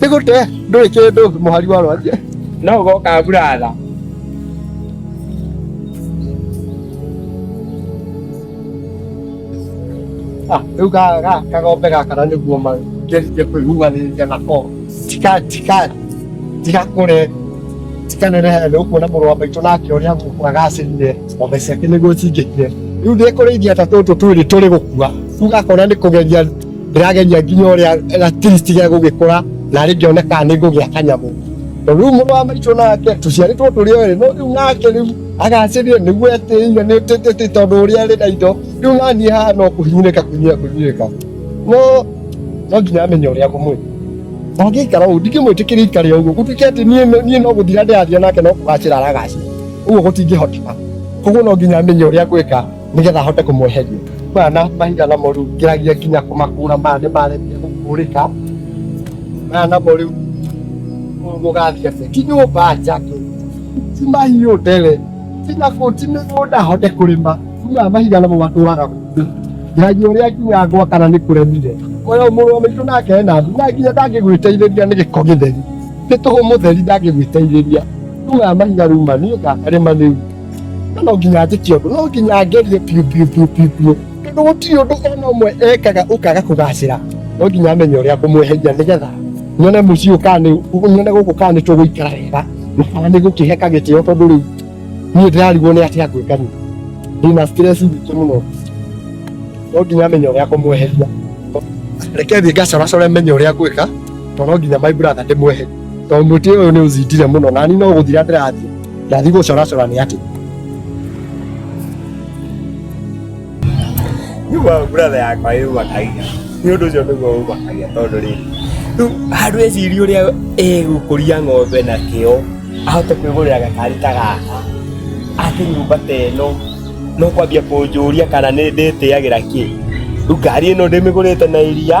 nĩ gũte ndũrĩ kĩndũ mũhari wa rwaria no ũgoka buratha Ah, rĩu ga- ga- kagombe gaka na nĩguo mangerie kwĩhumanĩrĩria nako tika tika tigakũre tikanenehe nĩ ũkuona mũrũ wa maitũ nake ũrĩa gũkũ agacĩrire ng'ombe ciake nĩguo cingĩkire rĩu ndĩkũrĩithia ta tũtũ twĩrĩ tũrĩ gũkua rĩu gakona nĩ kũgeria ndĩrageria nginya ũrĩa gatiristi gĩa gũgĩkũra narĩ ngĩone kana nĩ ngũgĩa kanyamũ na rĩu mũrũ wa maitũ nake tũciarĩtwo tũrĩ o no rĩu nake rĩu agacĩrire nĩguo etĩire nĩ tĩtĩtĩ tondũ ũrĩa arĩ na indo rĩu naniĩ haha no kũhinyĩrĩka kũhinyĩrĩka kũhinyĩrĩka no no nginya amenye ũrĩa ngũmwĩka ndangĩikara ũguo ndingĩmwĩtĩkĩria ikare ũguo gũtuĩke atĩ niĩ no- niĩ no gũthira ndĩrathira nake no kũgacĩra aragacĩra ũguo gũtingĩhoteka koguo no nginya amenye ũrĩa ngwĩka nigetha ahote kumweheria maya na mahiga namo riu ngiragia nginya kumakura maya ni maremia gukurika maya namo riu mugathia se ti nyumba njake ti mahiũ ndere ti nakuo ti mĩgũnda hote kũrĩma maya mahiga namo matũraga kuo nginya ũrĩa nginya ngwa kana nĩ kũremire koyo mũrũ wa maitũ nake ena ndu na nginya ndangĩgwĩteithĩria nĩ gĩko gĩtheri nĩ tũhũ mũtheri ndangĩgwĩteithĩria rĩu maya mahiga rĩu ma niĩ ngakarĩma rĩu no nginya njĩke ũndũ no nginya ngerie biũ biũ biũ biũ biũ tondũ gũtirĩ ũndũ ona ũmwe ekaga ũkaga kũgacĩra no nginya amenye ũrĩa ngũmweheria nĩgetha nyone mũciĩ ũyũ kana nĩ- nyone gũkũ kana nĩ tũgũikara wega na kana nĩ gũkĩhe kagĩtĩo tondũ rĩu niĩ ndĩrarigwo nĩ atĩa ngwĩka niĩ ndĩna stress nyingĩ mũno no nginya menye ũrĩa ngũmweheria reke thiĩ ngacoracore menye ũrĩa ngwĩka tondũ no nginya my brother ndĩmweherie tondũ mũtĩ ũyũ nĩ ũzindire mũno nani no gũthira ndĩrathiĩ Ndathiĩ gũcoracora nĩ atĩ. Nĩguo brother yakwa yũmakagia. Nĩ ũndũ ũcio nĩguo ũmakagia tondũ rĩrĩ. Rĩu handũ ecirie ũrĩa egũkũria ng'ombe na kĩo ahote kwĩgũrĩra gakari ta gaka ake nyũmba ta ĩno no kwambia kũnjũria kana nĩ ndĩtĩagĩra kĩ. Rĩu ngari ĩno ndĩmĩgũrĩte na iria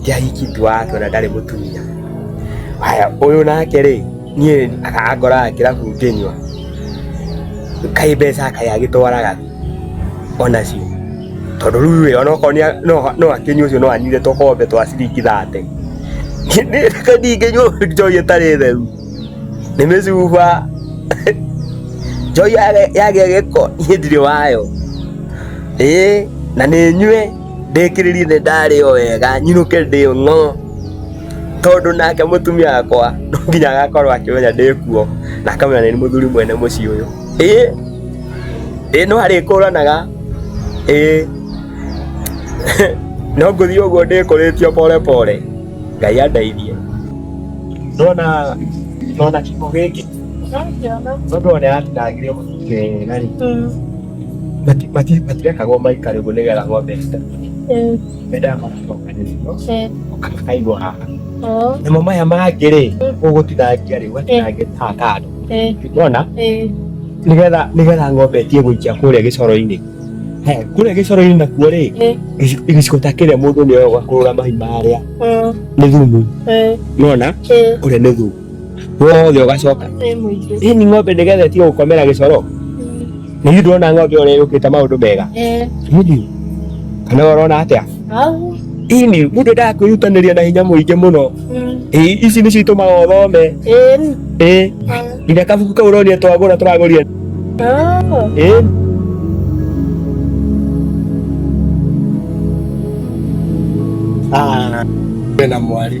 ndiahiki tu wake ona ndarĩ mũtumia haya ũyũ nake rĩ niĩ akangoraga kĩrabu ngĩnyua kaĩ mbeca kaĩ agĩtwaraga onacio tondũ rĩu rĩ ona okorwo nĩa- no- no akĩnyua ũcio no anyire tũkombe twa ciringi thate ndingĩnyua njoi ĩtarĩ theru nĩ mĩcuba njoi yage- yagĩa gĩko niĩ ndirĩ wayo ĩĩ na nĩ nyue ndĩkĩrĩrie nĩ ndarĩo wega nyinũke ndĩo ng'o tondũ nake mũtumia wakwa no nginya agakorwo akĩmenya ndĩkuo na akamenya nĩ mũthuri mwene mũciĩ ũyũ ĩ ĩ no arĩkũranaga ĩ no ngũthiĩ ũguo ndĩkũrĩtio pore pore ngai andeithie ndona ndona kiko gĩkĩ tondũ one atinangirio mũtũkĩ wega rĩ matirekaga maikare ũguo nĩgetha ng'ombe mendaga magacokanĩrĩrio ũkakaigwo haha namo maya mangĩ rĩ ũgũtinangia rĩ ũgatinangia haha kando nona nĩgetha nĩgetha ng'ombe ĩtige gũikia kũrĩa gĩcoro-inĩ kũrĩa gĩcoro-inĩ nakuo rĩ gĩcigo ta kĩrĩa mũndũ nĩ oya ũgakũrũra mahi marĩa nĩ thumu nona ũrĩa nĩ thumu wothe ugacoka Nĩ mũingĩ. hii ni ng'ombe ndigethetie gukomera gicoro ni ithu ndona ng'ombe uria yukite maundu mega Eh, Hihi, kana urona atia au. hii ni mundu endaga kwiyutaniria na hinya muingi muno Mm. Ĩ, ici nicio itumaga uthome Eh, ni- ĩ nginya kabuku kau uronia twagura turagurire ah. ĩ Ah, wĩna mwarĩ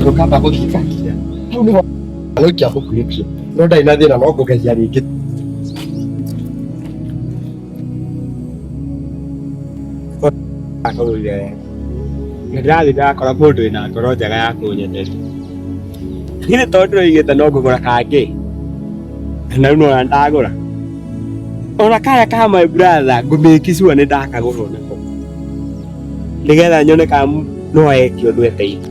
ndokamba guthikangia hau niho gũikia gũkuĩtio no ndarĩ na thĩna no ngũgeria rĩngĩ akagũire nĩ ndĩrathiĩ ndakora mũndũ wĩna ngoro njega ya kũnyendete githĩ tondũ ndĩroigĩte no ngũgũra kangĩ na rĩu nona ndagũra ona karĩa ka my brother ngũmĩki sure nĩ ndakagũrwo nako nĩgetha nyone ka no eke ũndũ eteithia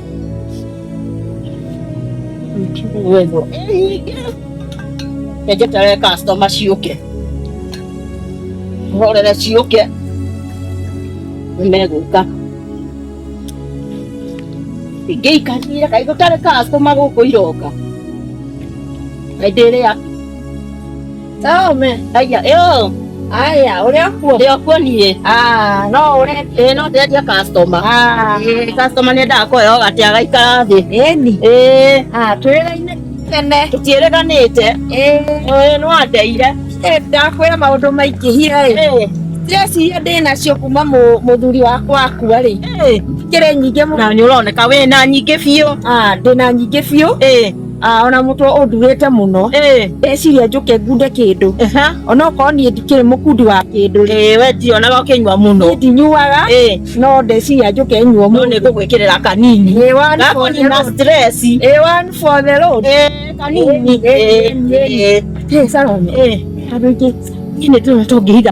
wendo ngeterere customer ciũke horere ciũke nĩmegũka ingĩikarire kaĩ gũtarĩ customer gũkũ iroka hĩndĩ ĩrĩa Tome. Aya, yo. Aya, uri akuo. Ndi akuo niĩ. Ah, no uri. Ĩ no ndendia customer. Ah. Ĩ customer nĩ ndakoya ũgati agaikara thĩ. Ĩni. Ĩ. Ah, twĩraine tene. Tũtiĩrĩganĩte. Ĩ. Ĩ no andeire. Ĩ ndakwĩra maũndũ maingĩ hia ĩ. Ĩ. Ndĩreciria ndĩ nacio kuma mũthuri wakwa akua rĩ. Ĩ. Kĩrĩ nyingĩ mũno. Na nĩ ũroneka wĩ na nyingĩ biũ. Ah, ndĩ na nyingĩ biũ. Ĩ. Ah, ona mũtwe ũnduĩte mũno Eh, ndeciria njũke ngunde kĩndũ aha. ona okorwo niĩ ndikĩrĩ mũkundi wa kĩndũ rĩ Eh, we ndionaga ũkĩnyua mũno niĩ ndinyuaga Eh, no ndeciria njũke nyuo no nĩ ngũgwĩkĩrĩra kanini Ĩĩ, one for the gakonina road. stress Ĩĩ, one for the road. Eh, kanini Eh, eh, Eh, eh, eh, Salome, eh. andũ aingĩ Nĩ tũna tũngĩhiga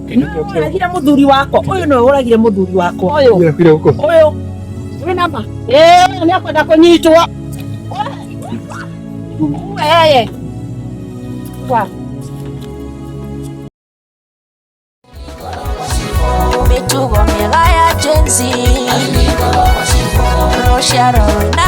Ũragire mũthuri wakwa ũyũ nĩwe ũragire mũthuri wakwa ũyũ ũyũ wĩ nama eh, ũyũ nĩ akwenda kũnyitwo wee wa mĩtugo mĩega ya jenzi rũciaro rwĩna